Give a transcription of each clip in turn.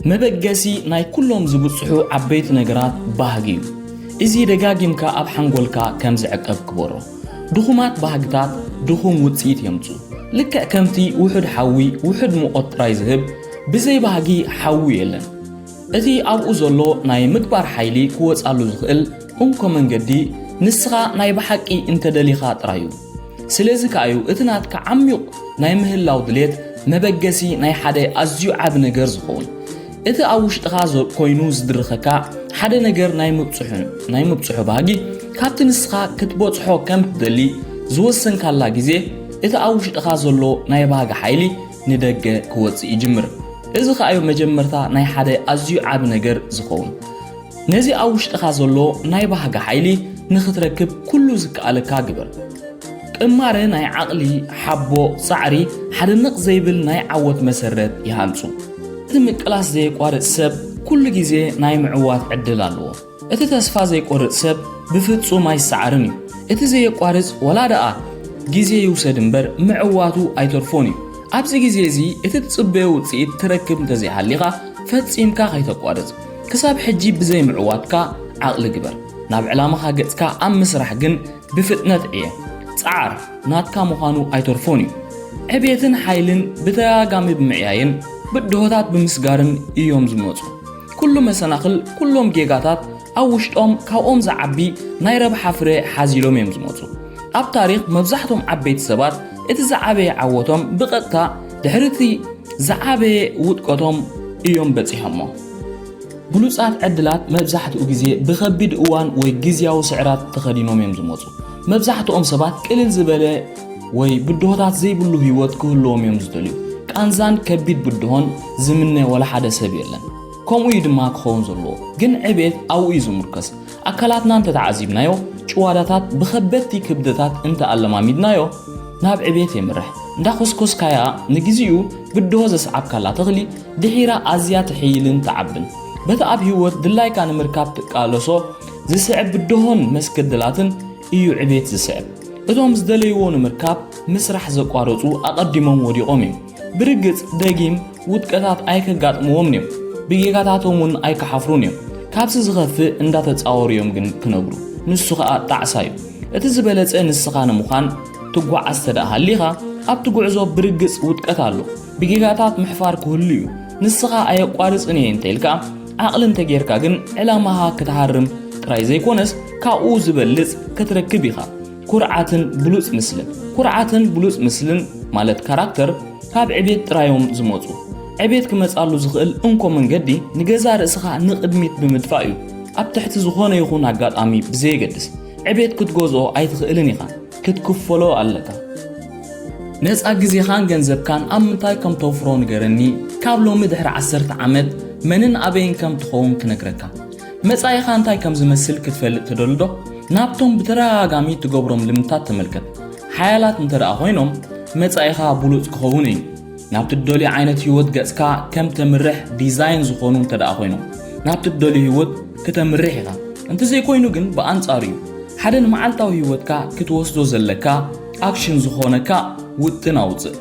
መበገሲ ናይ ኩሎም ዝብጽሑ ዓበይቲ ነገራት ባህጊ እዩ። እዚ ደጋጊምካ ኣብ ሓንጎልካ ከም ዝዕቀብ ግበሮ። ድኹማት ባህግታት ድኹም ውጽኢት የምጽኡ። ልክዕ ከምቲ ውሑድ ሓዊ ውሑድ ሙቐት ጥራይ ዝህብ፣ ብዘይ ባህጊ ሓዊ የለን። እቲ ኣብኡ ዘሎ ናይ ምግባር ሓይሊ ክወጻሉ ዝኽእል፣ እንኮ መንገዲ ንስኻ ናይ ብሓቂ እንተ ደሊኻ ጥራይ እዩ። ስለዚ ከኣ እዩ እቲ ናትካ ዓሚዩቕ ናይ ምህላው ድሌት መበገሲ ናይ ሓደ ኣዝዩ ዓቢ ነገር ዝኸውን። እቲ ኣብ ውሽጥኻ ኮይኑ ዝድርኸካ ሓደ ነገር ናይ ምብጽሑን ናይ ምብጽሑ ባህጊ ካብቲ ንስኻ ክትበጽሖ ከም ትደሊ ዝወሰንካላ ግዜ እቲ ኣብ ውሽጥኻ ዘሎ ናይ ባህጊ ሓይሊ ንደገ ክወጽእ ይጅምር። እዚ ከኣ እዩ መጀመርታ ናይ ሓደ ኣዝዩ ዓቢ ነገር ዝኸውን። ነዚ ኣብ ውሽጥኻ ዘሎ ናይ ባህጊ ሓይሊ ንኽትረክብ ኩሉ ዝከኣለካ ግበር። ቅማረ ናይ ዓቕሊ፣ ሓቦ፣ ጻዕሪ ሓደ ነቕ ዘይብል ናይ ዓወት መሰረት ይሃንጹ። እቲ ምቅላስ ዘየቋርጽ ሰብ ኩሉ ግዜ ናይ ምዕዋት ዕድል ኣለዎ። እቲ ተስፋ ዘይቆርጽ ሰብ ብፍጹም ኣይሰዓርን እዩ። እቲ ዘየቋርጽ ዋላ ደኣ ግዜ ይውሰድ እምበር ምዕዋቱ ኣይተርፎን እዩ። ኣብዚ ግዜ እዚ እቲ ትጽበዮ ውጽኢት ትረክብ እንተዘይሃሊኻ ፈጺምካ ከይተቋርጽ። ክሳብ ሕጂ ብዘይ ምዕዋትካ ዓቕሊ ግበር ናብ ዕላማኻ ገጽካ ኣብ ምስራሕ ግን ብፍጥነት ዕየ ጸዓር ናትካ ምዃኑ ኣይተርፎን እዩ ዕብየትን ሓይልን ብተደጋጋሚ ብምዕያይን ብድሆታት ብምስጋርን እዮም ዝመጹ ኩሉ መሰናኽል ኩሎም ጌጋታት ኣብ ውሽጦም ካብኦም ዝዓቢ ናይ ረብሓ ፍረ ሓዚሎም እዮም ዝመጹ ኣብ ታሪኽ መብዛሕቶም ዓበይቲ ሰባት እቲ ዝዓበየ ዓወቶም ብቐጥታ ድሕሪ እቲ ዝዓበየ ውድቀቶም እዮም በጺሖሞ። ብሉጻት ዕድላት መብዛሕትኡ ግዜ ብኸቢድ እዋን ወይ ግዝያዊ ስዕራት ተኸዲኖም እዮም ዝመጹ። መብዛሕትኦም ሰባት ቅልል ዝበለ ወይ ብድሆታት ዘይብሉ ህይወት ክህልዎም እዮም ዝደልዩ። ቃንዛን ከቢድ ብድሆን ዝምነ ወላ ሓደ ሰብ የለን። ከምኡ እዩ ድማ ክኸውን ዘለዎ። ግን ዕቤት ኣብኡ እዩ ዝምርኮስ። ኣካላትና እንተተዓዚብናዮ፣ ጭዋዳታት ብኸበድቲ ክብደታት እንተኣለማሚድናዮ ናብ ዕብየት የምርሕ። እንዳኾስኮስካያ ንግዚኡ ብድሆ ዘስዓብካላ ተኽሊ ድሒራ ኣዝያ ትሕይልን ትዓብን። በቲ ኣብ ህይወት ድላይካ ንምርካብ ትቃለሶ ዝስዕብ ብድሆን መስገደላትን እዩ ዕብየት ዝስዕብ። እቶም ዝደለይዎ ንምርካብ ምስራሕ ዘቋረጹ ኣቐዲሞም ወዲቖም እዮም። ብርግጽ ደጊም ውድቀታት ኣይከጋጥምዎምን እዮም፣ ብጌጋታቶም እውን ኣይክሓፍሩን እዮም። ካብዚ ዝኸፍእ እንዳተጻወሩ እዮም ግን ክነብሩ፣ ንሱ ከኣ ጣዕሳ እዩ። እቲ ዝበለጸ ንስኻ ንምዃን ትጓዓዝ ተደኣ ሃሊኻ፣ ኣብቲ ጉዕዞ ብርግጽ ውድቀት ኣሎ፣ ብጌጋታት ምሕፋር ክህሉ እዩ። ንስኻ ኣየቋርጽን እየ እንተኢልካ፣ ዓቕሊ እንተጌርካ ግን ዕላማኻ ክትሃርም ጥራይ ዘይኮነስ ካብኡ ዝበልጽ ክትረክብ ኢኻ። ኩርዓትን ብሉፅ ምስልን ኩርዓትን ብሉፅ ምስልን ማለት ካራክተር ካብ ዕቤት ጥራዮም ዝመፁ ዕቤት ክመፃሉ ዝኽእል እንኮ መንገዲ ንገዛ ርእስኻ ንቕድሚት ብምድፋእ እዩ ኣብ ትሕቲ ዝኾነ ይኹን ኣጋጣሚ ብዘየገድስ ዕቤት ክትገዝኦ ኣይትኽእልን ኢኻ ክትክፈሎ ኣለካ ነፃ ግዜኻን ገንዘብካን ኣብ ምንታይ ከም ተውፍሮ ንገረኒ ካብ ሎሚ ድሕሪ ዓሰርተ ዓመት መንን ኣበይን ከም ትኸውን ክነግረካ መጻኢኻ እንታይ ከም ዝመስል ክትፈልጥ ትደልዶ? ናብቶም ብተደጋጋሚ እትገብሮም ልምድታት ተመልከት። ሓያላት እንተ ደኣ ዀይኖም፣ መጻኢኻ ብሉጽ ክኸውን እዩ። ናብቲ እትደልዮ ዓይነት ህይወት ገጽካ ከም እተምርሕ ዲዛይን ዝዀኑ እንተ ደኣ ዀይኖም፣ ናብቲ እትደልዮ ህይወት ክተምርሕ ኢኻ። እንተ ዘይኰይኑ ግን ብኣንጻሩ እዩ። ሓደ ንመዓልታዊ ህይወትካ ክትወስዶ ዘለካ ኣክሽን ዝዀነካ ውጥን ኣውጽእ።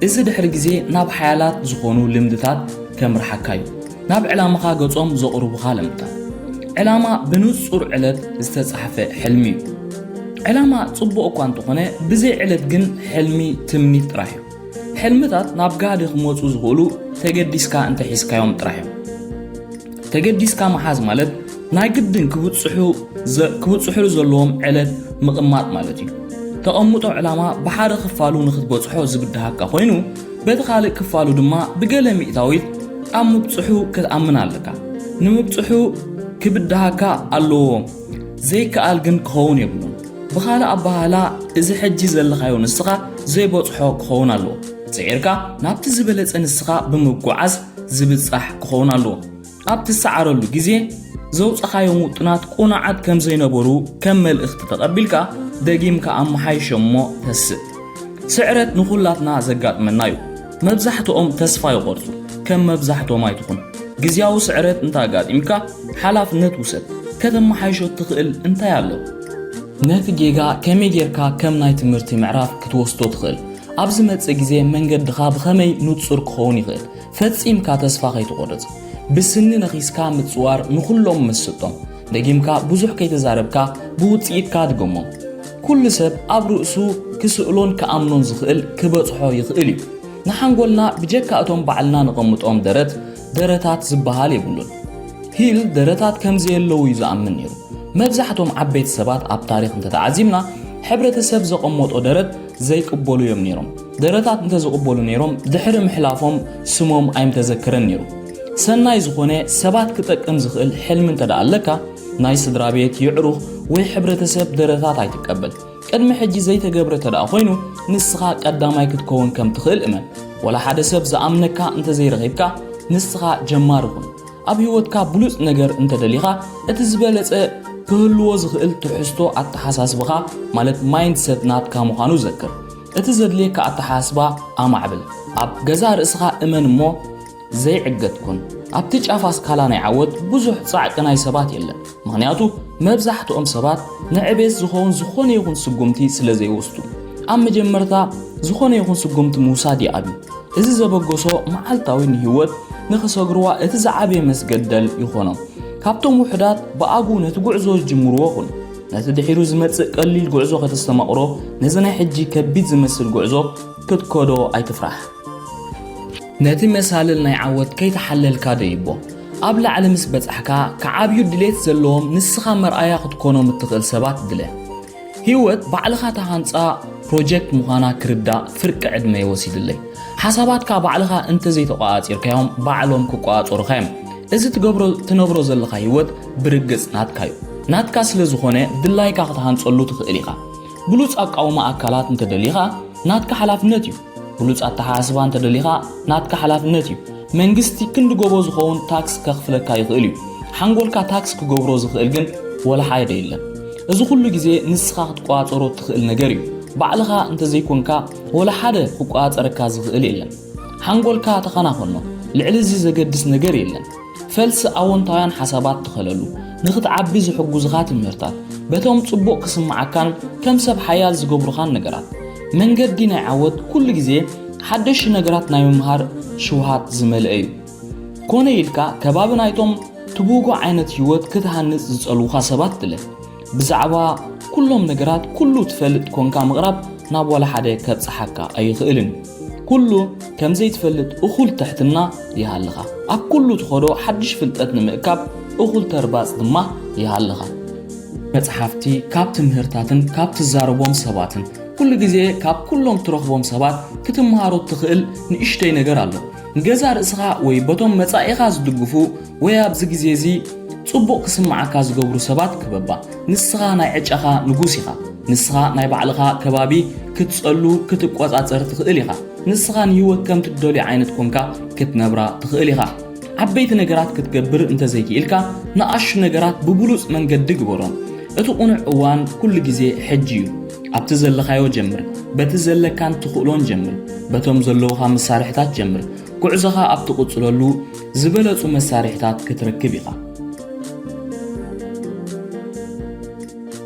እዚ ድሕሪ ግዜ ናብ ሓያላት ዝዀኑ ልምድታት ከምርሓካ እዩ። ናብ ዕላምኻ ገጾም ዘቕርቡኻ ለምታ። ዕላማ ብንጹር ዕለት ዝተጻሕፈ ሕልሚ እዩ። ዕላማ ጽቡቕ እኳ እንተኾነ ብዘይ ዕለት ግን ሕልሚ ትምኒት ጥራሕ እዩ። ሕልምታት ናብ ጋህዲ ክመጹ ዝኽእሉ ተገዲስካ እንተሒዝካዮም ጥራሕ እዮም። ተገዲስካ ምሓዝ ማለት ናይ ግድን ክብጽሑሉ ዘለዎም ዕለት ምቕማጥ ማለት እዩ። ተቐምጦ ዕላማ ብሓደ ክፋሉ ንክትበጽሖ ዝብድሃካ ኮይኑ በቲ ካልእ ክፋሉ ድማ ብገለ ሚእታዊት ኣብ ምብጽሑ ክትኣምን ኣለካ ንምብጽሑ ክብድሃካ ኣለዎ ዘይከኣል ግን ክኸውን የብሉን ብኻልእ ኣባህላ እዚ ሕጂ ዘለኻዮ ንስኻ ዘይበጽሖ ክኸውን ኣለዎ ጽዒርካ ናብቲ ዝበለጸ ንስኻ ብምጓዓዝ ዝብጻሕ ክኸውን ኣለዎ ኣብ ትሰዓረሉ ግዜ ዘውጻኻዮም ውጥናት ቁኑዓት ከም ዘይነበሩ ከም መልእኽቲ ተቐቢልካ ደጊምካ ኣመሓይሾም እሞ ተስእ። ስዕረት ንኹላትና ዘጋጥመና እዩ። መብዛሕትኦም ተስፋ ይቖርጹ። ከም መብዛሕትኦም ኣይትኹን። ግዝያዊ ስዕረት እንተ ኣጋጢምካ ሓላፍነት ውሰድ። ከተመሓይሾ እትኽእል እንታይ ኣሎ? ነቲ ጌጋ ከመይ ጌርካ ከም ናይ ትምህርቲ ምዕራፍ ክትወስዶ ትኽእል? ኣብ ዝመጽእ ግዜ መንገድኻ ብኸመይ ንጹር ክኸውን ይኽእል? ፈጺምካ ተስፋ ከይትቖርጽ፣ ብስኒ ነኺስካ ምጽዋር ንኹሎም መስጦም፣ ደጊምካ ብዙሕ ከይተዛረብካ ብውጽኢትካ ኣድገሞም። ኩሉ ሰብ ኣብ ርእሱ ክስእሎን ክኣምኖን ዝኽእል ክበጽሖ ይኽእል እዩ። ንሓንጎልና ብጀካ እቶም ባዕልና ነቐምጦም ደረት፣ ደረታት ዝበሃል የብሉን። ሂል ደረታት ከም ዘየለዉ እዩ ዝኣምን ነይሩ። መብዛሕቶም ዓበይቲ ሰባት ኣብ ታሪኽ እንተተዓዚብና ሕብረተሰብ ዘቐመጦ ደረት ዘይቅበሉ እዮም ነይሮም። ደረታት እንተዝቕበሉ ነይሮም ድሕሪ ምሕላፎም ስሞም ኣይምተዘከረን ነይሩ። ሰናይ ዝኾነ ሰባት ክጠቅም ዝኽእል ሕልሚ እንተደኣ ኣለካ ናይ ስድራ ቤት፣ የዕሩኽ ወይ ሕብረተሰብ ደረታት ኣይትቀበል። ቅድሚ ሕጂ ዘይተገብረ እንተደኣ ኮይኑ ንስኻ ቀዳማይ ክትከውን ከም ትኽእል እመን። ወላ ሓደ ሰብ ዝኣምነካ እንተዘይረኺብካ ንስኻ ጀማሪ ኩን። ኣብ ህይወትካ ብሉጽ ነገር እንተደሊኻ እቲ ዝበለጸ ክህልዎ ዝኽእል ትሕዝቶ ኣተሓሳስብኻ ማለት ማይንድሰት ናትካ ምዃኑ ዘክር። እቲ ዘድልየካ ኣተሓሳስባ ኣማዕብል። ኣብ ገዛእ ርእስኻ እመን እሞ ዘይዕገት ኩን። ኣብቲ ጫፍ ኣስካላ ናይ ዓወት ብዙሕ ጻዕቂ ናይ ሰባት የለን። ምኽንያቱ መብዛሕትኦም ሰባት ንዕቤት ዝኸውን ዝኾነ ይኹን ስጉምቲ ስለ ዘይወስዱ። ኣብ መጀመርታ ዝኾነ ይኹን ስጉምቲ ምውሳድ ይኣብዩ። እዚ ዘበገሶ መዓልታዊ ንህይወት ንኽሰግርዋ እቲ ዝዓበየ መስገደል ይኾኖም። ካብቶም ውሑዳት ብኣግኡ ነቲ ጉዕዞ ዝጅምርዎ ኩን። ነቲ ድሒሩ ዝመጽእ ቀሊል ጉዕዞ ከተስተማቕሮ፣ ነዚ ናይ ሕጂ ከቢድ ዝመስል ጉዕዞ ክትከዶ ኣይትፍራሕ። ነቲ መሳልል ናይ ዓወት ከይተሓለልካ ደይቦ። ኣብ ላዕሊ ምስ በጻሕካ፣ ክዓብዩ ድሌት ዘለዎም ንስኻ መርኣያ ክትኮኖም እትኽእል ሰባት ድለ። ህይወት ባዕልኻ ትሃንጻ ፕሮጀክት ምዃና ክርዳእ ፍርቂ ዕድመ'ዩ ወሲድለይ። ሓሳባትካ ባዕልኻ እንተዘይተቖጻጺርካዮም ባዕሎም ክቆጻጸሩኻ'ዮም። እዚ ትገብሮ ትነብሮ ዘለኻ ህይወት ብርግጽ ናትካ'ዩ። ናትካ ስለ ዝኾነ ድላይካ ክትሃንጸሉ ትኽእል ኢኻ። ብሉጽ ኣቃውማ ኣካላት እንተ ደሊኻ ናትካ ሓላፍነት'ዩ። ብሉጽ ኣተሓሳስባ እንተ ደሊኻ ናትካ ሓላፍነት'ዩ። መንግስቲ ክንዲ ጎቦ ዝኸውን ታክስ ከኽፍለካ ይኽእል'ዩ። ሓንጎልካ ታክስ ክገብሮ ዝኽእል ግን ወላሓደ የለን። እዚ ኩሉ ግዜ ንስኻ ክትቆጻጸሮ እትኽእል ነገር'ዩ። ባዕልኻ እንተ ዘይኮንካ ወላሓደ ክቆጻጸረካ ዝኽእል የለን። ሓንጎልካ ተኸናኸኖ። ልዕሊ እዚ ዘገድስ ነገር የለን። ፈልሲ ኣወንታውያን ሓሳባት ትኸለሉ፣ ንኽትዓቢ ዝሕጉዝኻ ትምህርታት፣ በቶም ጽቡቕ ክስምዓካን ከም ሰብ ሓያል ዝገብሩኻን ነገራት። መንገዲ ናይ ዓወት ኩሉ ግዜ ሓደሽቲ ነገራት ናይ ምምሃር ሽውሃት ዝመልአ እዩ። ኮነ ኢልካ ከባቢ ናይቶም ትብህጎ ዓይነት ህይወት ክትሃንጽ ዝጸልዉኻ ሰባት ድለ። ብዛዕባ ኩሎም ነገራት ኩሉ ትፈልጥ ኮንካ ምቕራብ ናብ ዋላ ሓደ ከብጽሓካ ኣይኽእልን። ኩሉ ከም ዘይትፈልጥ እኹል ትሕትና ይሃልኻ። ኣብ ኩሉ ትኸዶ ሓድሽ ፍልጠት ንምእካብ እኹል ተርባጽ ድማ ይሃልኻ። መጽሓፍቲ፣ ካብ ትምህርታትን ካብ ትዛረቦም ሰባትን ኩሉ ግዜ ካብ ኩሎም ትረኽቦም ሰባት ክትምሃሮ እትኽእል ንእሽተይ ነገር ኣሎ። ንገዛ ርእስኻ ወይ በቶም መጻኢኻ ዝድግፉ ወይ ኣብዚ ግዜ እዚ ጽቡቕ ክስምዓካ ዝገብሩ ሰባት ክበባ። ንስኻ ናይ ዕጫኻ ንጉስ ኢኻ። ንስኻ ናይ ባዕልኻ ከባቢ ክትጸሉ ክትቆጻጸር ትኽእል ኢኻ። ንስኻ ንህይወት ከም ትደልዮ ዓይነት ኮንካ ክትነብራ ትኽእል ኢኻ። ዓበይቲ ነገራት ክትገብር እንተዘይክኢልካ ንኣሽቱ ነገራት ብብሉጽ መንገዲ ግበሮም። እቲ ቁኑዕ እዋን ኩሉ ግዜ ሕጂ እዩ። ኣብቲ ዘለኻዮ ጀምር። በቲ ዘለካን ትኽእሎን ጀምር። በቶም ዘለውኻ መሳርሒታት ጀምር። ጉዕዞኻ ኣብ ትቕጽለሉ ዝበለጹ መሳርሒታት ክትረክብ ኢኻ።